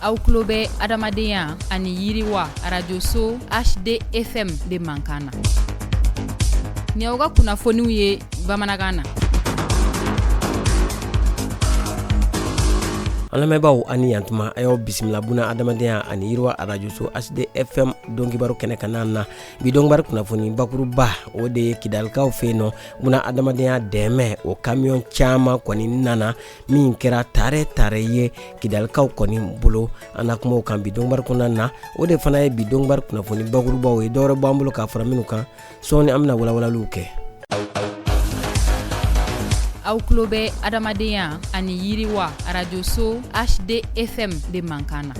aw tulo bɛ adamadenya ani yiriwa arajoso hdfm de mankan na ni aw ka kunnafoniw ye bamanankan na an lamɛnbaaw a ni yan tuma a y'aw bisimila buna adamadenya ani yiriwa arajoso hdfm donkibaru kɛnɛ kanna na bi donkibaru kunnafoni bakuruba o de ye kidalikaw fɛ yen nɔ buna adamadenya dɛmɛ o kamiyɔn caman kɔni nana min kɛra tare tare ye kidalikaw kɔni bolo an na kuma o kan bi donkibaru kɔnɔna na o de fana ye bi donkibaru kunnafoni bakurubaw ye dɔwɛrɛ b'an bolo k'a fara minnu kan sɔɔni an bɛna walawalaliw kɛ aw tulo bɛ adamadenya ani yiriwa arajoso hdfm de mankan na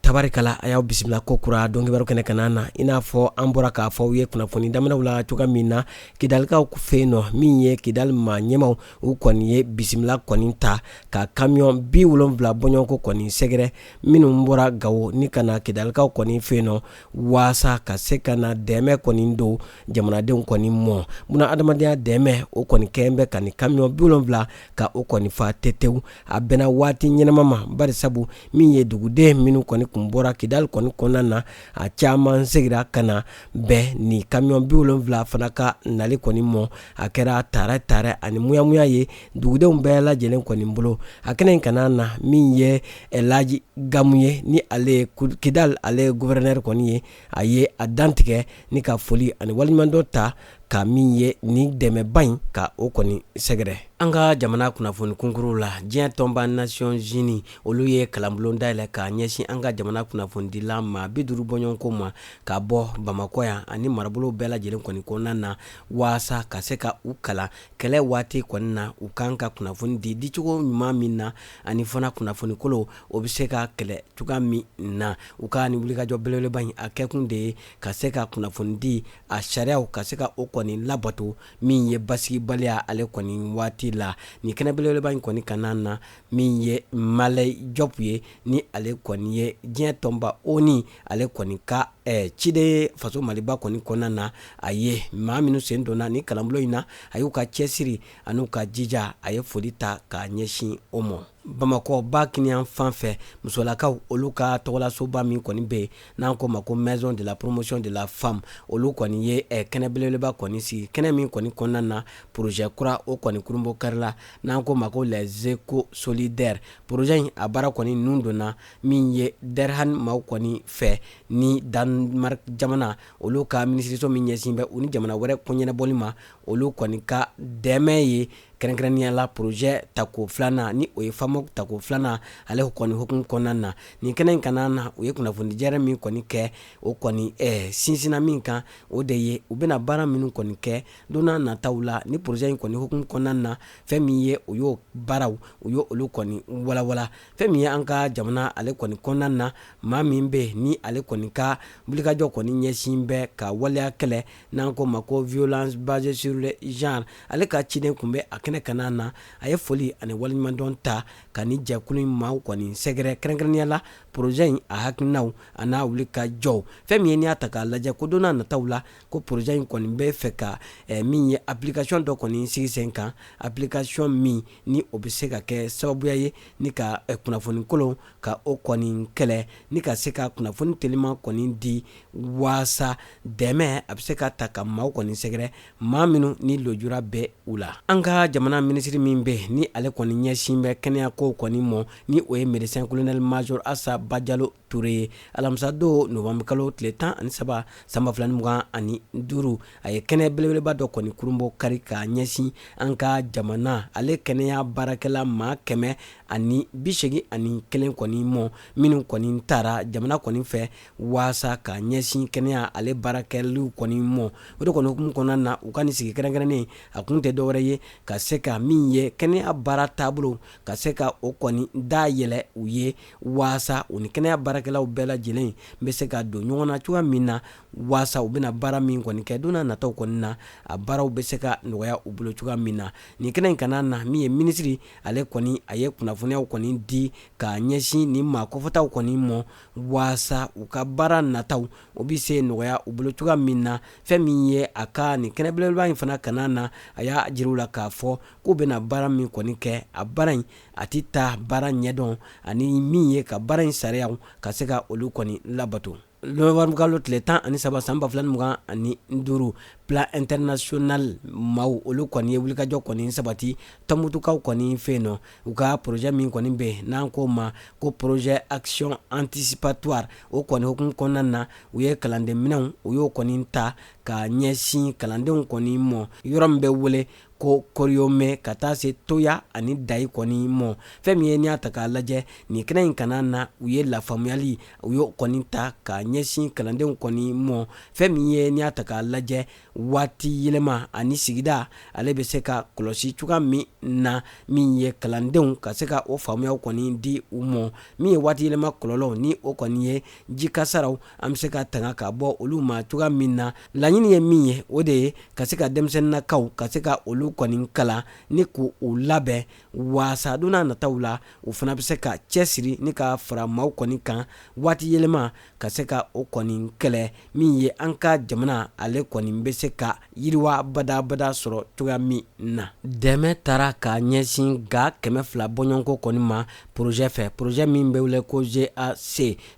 tabarikala a y'aw bisimila kokura donkibaru kɛnɛ kan na i n'a fɔ an bɔra k'a fɔ aw ye kunnafoni daminaw la cogoya min na kidalikaw fɛ yen nɔ min ye kidali maa ɲɛmaw u kɔni ye bisimila kɔni ta ka kamiyɔn bi wolonwula bɔɲɔgɔnko kɔni sɛgɛrɛ minnu bɔra gawo ni ka na kidalikaw kɔni fɛ yen nɔ waasa ka se ka na dɛmɛ kɔni don jamanadenw kɔni mɔ buna adamadenya dɛmɛ o kɔni kɛlen bɛ ka ni kamiyɔn bi wolonwula ka o kɔni fa tetewu a bɛnna waati ɲɛnama ma bari sabu min ye duguden minnu kɔni kun bɔra kidali kɔni kɔnɔna na a caman segira ka na bɛɛ ni kamiyɔn bi wolonwula fana ka nali kɔni mɔ a kɛra tare tare ani muyamuya ye dugudenw bɛɛ lajɛlen kɔni bolo a kɛnɛ in kanna na min ye elaji gamu ye ni ale ye kidal ale ye guvɛrɛnɛri kɔni ye a ye a dantigɛ ni ka foli ani waleɲumandɔn ta ka min ye ni dɛmɛba in ka o kɔni sɛgɛrɛ an ka jamana kunnafoni kunkuruw la diɲɛ tɔnba nations unies olu ye kalanbulon dayɛlɛ k'a ɲɛsin an ka jamana kunnafonidila maa bi duuru bɔɲɔgɔnko ma ka bɔ bamakɔ yan ani marabolo bɛɛ lajɛlen kɔni kɔnɔna na waasa ka se ka u kalan kɛlɛ waati kɔni na u kan ka kunnafoni di dicogo ɲuman min na ani fana kunnafoni kolon o bɛ se ka kɛlɛ cogoya min na u ka ni wulikajɔ belebeleba in a kɛkun de ye ka se ka kunnafoni di a sariyaw ka se ka o kɔni labato min ye basigibaliya ale kɔni waati la ni kɛnɛ belebeleba in kɔni kan na min ye malɛ jɔpu ye ni ale kɔni ye diɲɛ tɔnba onu ale kɔni ka eh, ciden ye faso maliba kɔni kɔnɔna na a ye maa minnu sen donna ni kalanbolo in na a y'u ka cɛsiri an'u ka jija a ye foli ta k'a ɲɛsin o mɔ bamakɔ ba kinin yanfan fɛ musolakaw olu ka tɔgɔlasoba min kɔni bɛ yen n'an k'o ma ko maison de la promotion de la femme olu kɔni ye eh, kɛnɛ belebeleba kɔni sigi kɛnɛ min kɔni kɔnɔna na projet kura o kɔni kurunbonkarila n'an k'o ma ko les éco solidaires Projet in a baara kɔni nun donna min ye Derhan maaw kɔni fɛ ni Danemark jamana olu ka minisiriso min ɲɛsin bɛ u ni jamana wɛrɛ ko ɲɛnabɔli ma olu kɔni ka dɛmɛ ye kɛrɛnkɛrɛnnenya la projet tako filanan ni o ye FAMOC tako filanan ale kɔni hukumu kɔnɔna na nin kɛnɛ in kana na u ye kunnafonidi jɛrɛ min kɔni kɛ o kɔni sinsinna min kan o de ye u bɛna baara minnu kɔni kɛ don n'a nataw la ni projet in kɔni hukumu kɔnɔna na fɛn min ye o y'o baaraw u ye olu kɔni walawala fɛn min ye an ka jamana ale kɔni kɔnɔna na maa min bɛ ni ale kɔni ka wulikajɔ kɔni ɲɛsin bɛ ka waleya kɛlɛ n'an ko ma ko violence basée sur le genre ale ka ciden kun bɛ a kɛnɛ kana na a ye foli ani waleɲumandɔn ta ka ni jɛkulu in maaw kɔni sɛgɛrɛ kɛrɛnkɛrɛnnenya la projet in a hakilinaw a n'a wulikajɔw fɛn min ye n'i y'a ta k'a lajɛ ko don n'a nataw la ko projet in kɔni bɛ fɛ ka min ye application dɔ kɔni sigi sen kan application min ni o bɛ se ka kɛ sababuya ye ni ka kunnafoni kolon ka o kɔni kɛlɛ ni ka se ka kunnafoni telima kɔni di waasa dɛmɛ a bɛ se ka ta ka maaw kɔni sɛgɛrɛ maa minnu ni lujura bɛ u la an ka jamana minisiri min bɛ ni ale kɔni ɲɛsin bɛ kɛnɛyako kɔni mɔ ni o ye médecin colonel major Assa Badiallo Touré ye alamisadon novembre kalo tile tan ani saba san ba fila mugan ani duuru a ye kɛnɛ belebeleba dɔ kɔni kurunbonkari ka ɲɛsin an ka jamana ale kɛnɛya baarakɛla maa kɛmɛ ani bisegi ani kelen kɔni mɔ minnu kɔni tara jamana kɔni fɛ waasa ka ɲɛsin kɛnɛya ale baarakɛliw kɔni mɔ o de kɔni hukumu kɔnɔna na u ka nin sigi kɛrɛnkɛrɛnnen a kun tɛ dɔwɛrɛ ye ka se ka min ye kɛnɛya baara taabolo ka se ka o kɔni da yɛlɛ u ye waasa u ni kɛnɛya baarakɛlaw bɛɛ lajɛlen n bɛ se ka don ɲɔgɔn na cogoya min na waasa u bɛna baara min kɔni kɛ don n'a nataw kɔni na a baaraw bɛ se ka nɔgɔya u bolo cogoya min na nin kɛnɛ in kana na min ye minisiri ale kɔni a ye kunnafoniyaw kɔni di ka ɲɛsin nin maa kofɔtaw kɔni mɔ waasa u ka baara nataw o bɛ se nɔgɔya u bolo cogoya min na fɛn min ye a ka nin kɛnɛ belebeleba in fana kana na a y'a jir'u la k'a fɔ k'u bɛna baara min kɔni kɛ a baara in a tɛ taa baara ɲɛdɔn ani min ye ka baara in sariyaw ka se ka olu kɔni labato novembre kalo tile tan ani saba san ba fila ni mugan ani duuru Plan International maaw olu kɔni ye wulikajɔ kɔni sabati Tɔnbutukaw kɔni fɛ yen nɔ u ka projet min kɔni bɛ n'an k'o ma ko projet action anticipatoire o kɔni hukumu kɔnɔna na u ye kalanden minɛnw u y'o kɔni ta ka ɲɛsin kalandenw kɔni mɔ yɔrɔ min bɛ wele ko koriyome ka taa se toya ani dayi kɔni mɔ fɛn min ye n'i y'a ta k'a lajɛ nin kɛnɛ in kana na u ye lafaamuyali u y'o kɔni ta ka ɲɛsin kalandenw kɔni mɔ fɛn min ye n'i y'a ta k'a lajɛ waati yɛlɛma ani sigida ale bɛ se ka kɔlɔsi cogoya min na min ye kalandenw ka se ka o faamuyaw kɔni di u mɔ min ye waati yɛlɛma kɔlɔlɔw ni o kɔni ye ji kasaraw an bɛ se ka tanga ka bɔ olu ma cogoya min na laɲini ye min ye o de ye ka se ka denmisɛnninkaw ka se ka olu kɔni kalan ni k'u labɛn waasa don nataw la u fana bɛ se ka cɛ siri ni ka fara maaw kɔni kan waati yɛlɛma ka se ka o kɔni kɛlɛ min ye an ka jamana ale kɔni bɛ se ka yiriwa badabada sɔrɔ cogoya min na dɛmɛ taara ka ɲɛsin ga kɛmɛ fila bɔɲɔgɔnko kɔni ma porozɛ fɛ porozɛ min bɛ wele ko gac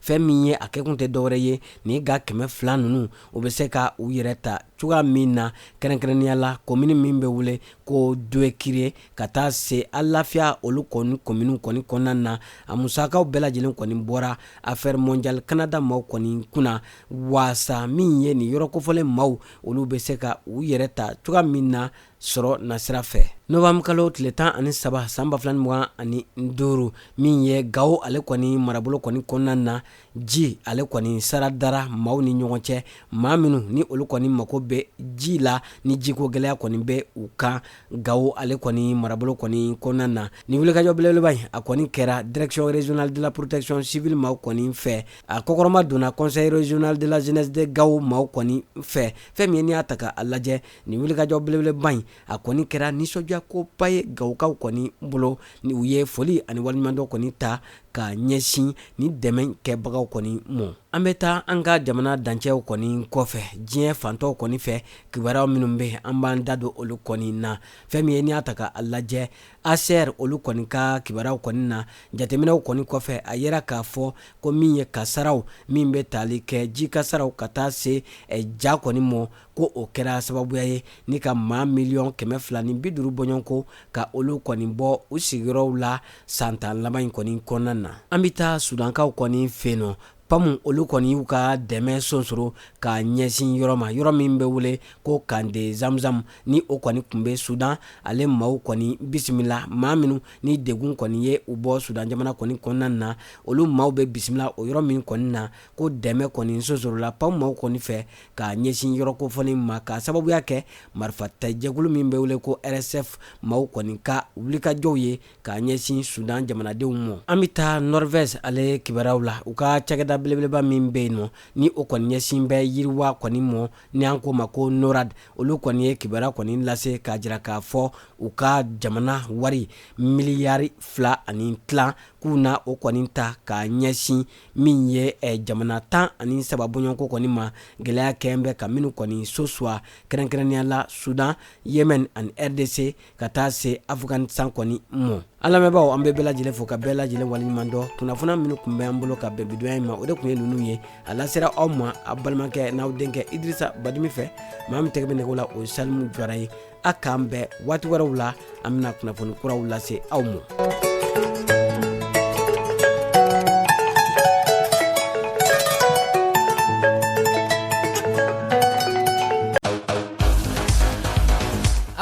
fɛn min ye a kɛkun tɛ dɔwɛrɛ ye ni ga kɛmɛ fila ninnu u bɛ se ka u yɛrɛ ta cogoya min na kɛrɛnkɛrɛnnenya la komini min bɛ wele ko doekire ka taa se alafiya olu kɔni kominiw kɔni kɔnɔna na a musakaw bɛɛ lajɛlen kɔni bɔra affaires mondiales canada maaw kɔni kunna waasa min ye nin yɔrɔ kofɔlen maaw olu bɛ se ka u yɛrɛ ta cogoya min na sɔrɔ nasira fɛ novembre kalo tile tan ani saba san ba fila ni mugan ani duuru min ye gawo ale kɔni marabolo kɔni kɔnɔna na ji ale kɔni sara dara maaw ni ɲɔgɔn cɛ maa minnu ni olu kɔni mago bɛ ji la ni jiko gɛlɛya kɔni bɛ u kan gawo ale kɔni marabolo kɔni kɔnɔna na ni wulikajɔ belebeleba in a kɔni kɛra direction régionale de la protection civile maaw kɔni fɛ a kɔkɔrɔma donna conseil régional de la jeunesse de gawo maaw kɔni fɛ fɛn min ye n'i y'a ta k'a lajɛ nin wulikajɔ belebeleba in a kɔni kɛra nisɔndiya koba ye gawokaw kɔni bolo ni u ye foli ani waleɲumandɔn kɔni ta ka ɲɛsin ni dɛmɛ kɛbagaw kɔni mɔ an bɛ taa an ka jamana dancɛw kɔni kɔfɛ diɲɛ fan tɔw kɔni fɛ kibaruyaw minnu bɛ an b'an da don olu kɔni na fɛn min ye n'i y'a ta k'a lajɛ hcr olu kɔni ka kibaruyaw kɔni na jateminɛw kɔni kɔfɛ a yera k'a fɔ ko min ye kasaraw min bɛ tali kɛ ji kasaraw ka taa se eh, ja kɔni mɔ ko o kɛra sababuya ye ni ka maa miliyɔn kɛmɛ fila ni bi duuru bɔɲɔgɔnko ka olu kɔni bɔ u sigiyɔrɔw la san tan laban in kɔni kɔnɔna na an bɛ taa sudankaw kɔni fɛ nɔ pamu olu kɔni y'u ka dɛmɛ sonsoro ka ɲɛsin yɔrɔ ma yɔrɔ min bɛ wele ko camp de zamzam ni o kɔni tun bɛ sudan ale maaw kɔni bisimila maa minnu ni degun kɔni ye u bɔ sudan jamana kɔni kɔnɔna na olu maaw bɛ bisimila o yɔrɔ min kɔni na ko dɛmɛ kɔni sonsorola pamu maaw kɔni fɛ ka ɲɛsin yɔrɔ kofɔlen ma k'a sababuya kɛ marifatajɛkulu min bɛ wele ko rsf maaw kɔni ka wulikajɔw ye k'a ɲɛsin sudan jamanadenw mɔ an bɛ taa norvège ale kibaruyaw la u ka cakɛda belebeleba min bɛ yen nɔ ni o kɔni ɲɛsin bɛ yiriwa kɔni mɔ ni an k'o ma ko norad olu kɔni ye kibaruya kɔni lase k'a jira k'a fɔ u ka jamana wari miliyari fila ani tilan k'u na o kɔni ta k'a ɲɛsin min ye eh, jamana tan ani saba bɔɲɔgɔnko kɔni ma gɛlɛya kɛn bɛ ka minnu kɔni sosuwa kɛrɛnkɛrɛnnenya la sudan yemen ani rdc ka taa se afghanistan kɔni mɔ an lamɛnbaaw an bɛ bɛɛ lajɛlen fo ka bɛɛ lajɛlen waleɲumandɔn kunnafoniya minnu tun bɛ an bolo ka bɛn bi donya in ma o de tun ye ninnu ye a lasera aw ma aw balimakɛ n'aw denkɛ idrisa badimi fɛ maa min tɛgɛ bɛ nɛgɛw la o ye salimu jara ye a k'an bɛn waati wɛrɛw la an bɛna kunnafoni kuraw lase aw ma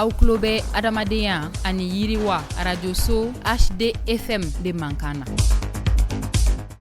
Aw tulo bɛ adamadenya ani yiriwa radioso hd fm de mankan na